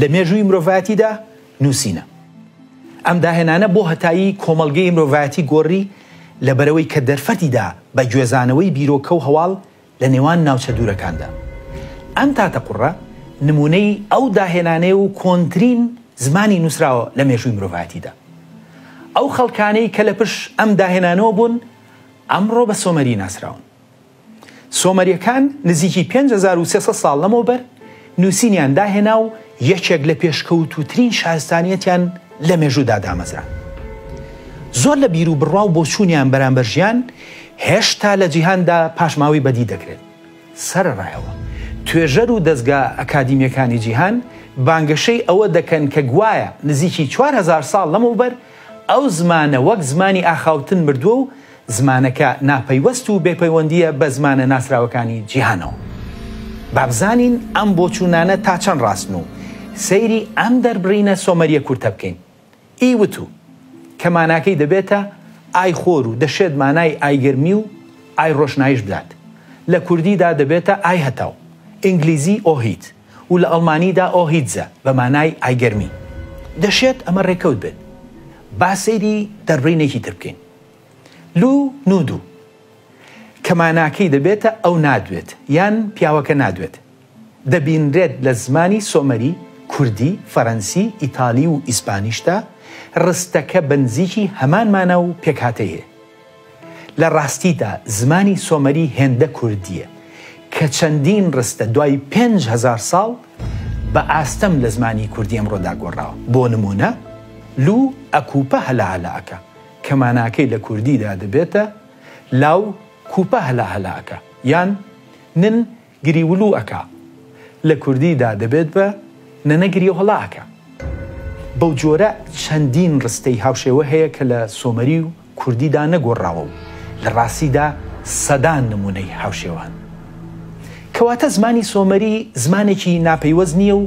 لە مێژووی مرۆڤایەتیدا نووسینە. ئەم داهێنانە بۆ هەتایی کۆمەڵگەی مرۆڤایەتی گۆڕی لەبەرئەوەی کە دەرفەتی دا بە گوێزانەوەی بیرۆکە و هەواڵ لە نێوان ناوچە دوورەکاندا. ئەم تاتەقوڕە نموونەی ئەو داهێنانەیە و کۆنترین زمانی نووسراوە لە مێژووی مرۆڤایەتیدا. ئەو خەڵکانەی کە لە پش ئەم داهێنانەوە بوون ئەمڕۆ بە سۆمەری ناسراون. سۆمەریەکان نزیکی پێنج هەزار و سێ سەد ساڵ لەمەوبەر نووسینیان داهێنا و یەکێک لە پێشکەوتووترین شارستانیەتیان لە مێژوودا دامەزراند. زۆر لە بیر و بڕوا و بۆچوونیان بەرامبەر ژیان هێشتا لە جیهاندا پاشماوەی بەدی دەکرێت. سەرەڕایەوە توێژەر و دەزگا ئەکادیمیەکانی جیهان بانگەشەی ئەوە دەکەن کە گوایە نزیکی چوار هەزار ساڵ لەمەوبەر ئەو زمانە وەک زمانی ئاخاوتن مردووە و زمانەکە ناپەیوەست و بێپەیوەندییە بە زمانە ناسراوەکانی جیهانەوە. با بزانین ئەم بۆچوونانە تا چەند ڕاستن و سەیری ئەم دەربڕینە سۆمەرییە کورتە بکەین، ئی وتوو، کە ماناکەی دەبێتە، ئای خۆر و دەشێت مانای ئای گەرمی و ئای ڕۆشناییش بدات. لە کوردیدا دەبێتە ئای هەتاو، ئینگلیزی Ohit، و لە ئەڵمانیدا Ohitze، بە مانای ئای گەرمی. دەشێت ئەمە ڕێکەوت بێت. با سەیری دەربڕینێکی تر بکەین. لو نودو کە ماناکەی دەبێتە ئەو نادوێت یان پیاوەکە نادوێت، دەبینرێت لە زمانی سۆمەری، کوردی، فەرەنسی، ئیتالی و ئیسپانیشدا، ڕستەکە بەنزیکی هەمان مانا و پێکهاتەی هەیە. لە ڕاستیدا زمانی سۆمەری هێندە کوردییە کە چەندین ڕستە دوای پێنج هەزار ساڵ بە ئاستەم لە زمانی کوردی ئەمڕۆدا گۆڕاوە، بۆ نموونە، لو ئەکوپە هەلە هەلە ئەکە. کە ماناکەی لە کوردیدا دەبێتە، لاو کوپە هەلا هەلا ئەکا یان نن گریولو ئەکا، لە کوردیدا دەبێت بە، نەنە گریو هەڵا ئەکا. بەو جۆرە چەندین ڕستەی هاوشێوە هەیە کە لە سۆمەری و کوردیدا نەگۆڕراوە و لە ڕاستیدا سەدان نموونەی هاوشێوە هەن. کەواتە زمانی سۆمەری زمانێکی ناپەیوەست نییە و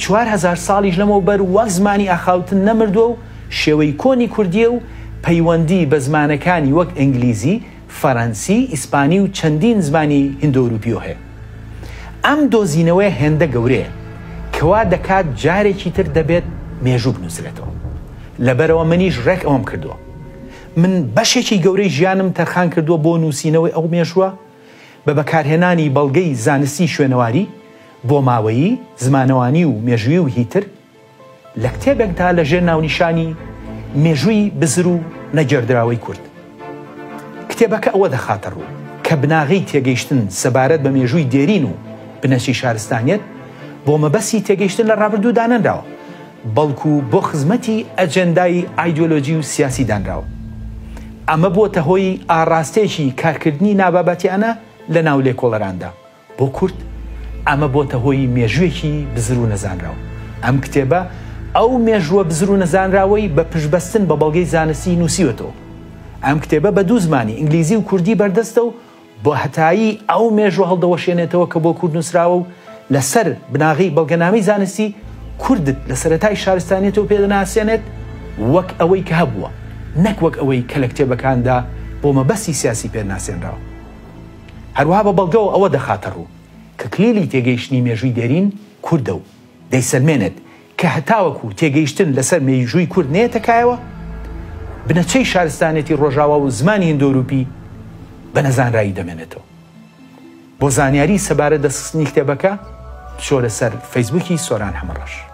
چوار هەزار ساڵیش لەمەوبەر وەک زمانی ئاخاوتن نەمردووە و شێوەی کۆنی کوردییە و پەیوەندی بە زمانەکانی وەک ئینگلیزی، فەرەنسی، ئیسپانی و چەندین زمانی هیندۆروپیۆ هەیە. ئەم دۆزینەوەیە هێندە گەورەیە کە وا دەکات جارێکی تر دەبێت مێژوو بنووسرێتەوە. لەبەرئەوە منیش ڕێک ئەوەم کردووە. من بەشێکی گەورەی ژیانم تەرخان کردووە بۆ نووسینەوەی ئەو مێژووە. بە بەکارهێنانی بەڵگەی زانستی شوێنەواری، بۆماوەیی، زمانەوانی و مێژووی و هیتر، لە کتێبێکدا لە ژێر ناونیشانی، مێژووی بزر و نەگێردراوەی کورد، کتێبەکە ئەوە دەخاتە ڕوو، کە بناغەی تێگەیشتن سەبارەت بە مێژووی دێرین و بنەچەی شارستانیەت، بۆ مەبەستی تێگەیشتن لە ڕابردوو دانەنراوە. بەڵکو بۆ خزمەتی ئەجێندای ئایدیۆلۆجی و سیاسی دانراوە. ئەمە بووەتە هۆی ئاڕاستەیەکی کارکردنی نابابەتیانە لە ناو لێکۆڵەراندا. بۆ کورد ئەمە بۆتە هۆی مێژووێکی بزر و نەزانراو. ئەم کتێبە ئەو مێژووە بزر و نەزانراوەی بە پشتبەستن بە بەڵگەی زانستی نووسیوەتەوە. ئەم کتێبە بە دوو زمانی، ئینگلیزی و کوردی، بەردەستە و، بۆ هەتایی ئەو مێژوە هەڵدەوەشێنێتەوە کە بۆ کورد نوسراوە و لە سەر بناغەی بەڵگەنامەی زانستی کوردت لە سەرەتای شارستانیەتەوە پێ دەناسێنێت وەک ئەوەی کە هەبووە نەک وەک ئەوەی کە لە کتێبەکاندا بۆ مەبەستی سیاسی پێ ناسێنراوە. هەروەها بە بەڵگەوە ئەوە دەخاتە ڕوو کە کلیلی تێگەیشتنی مێژووی دێرین کوردە و، دەیسەلمێنێت کە هەتاوەکو تێگەیشتن لەسەر مێیژووی کورد نەیەتە کایەوە، بنەچەی شارستانێتی ڕۆژاوا و زمانی هیندۆرووپی بە نەزانرایی دەمێنێتەوە. بۆ زانیاری سەبارەت دەستخستنی کتێبەکە، بچۆرە سەر فەیسبووکی سۆران حەمەڕەش.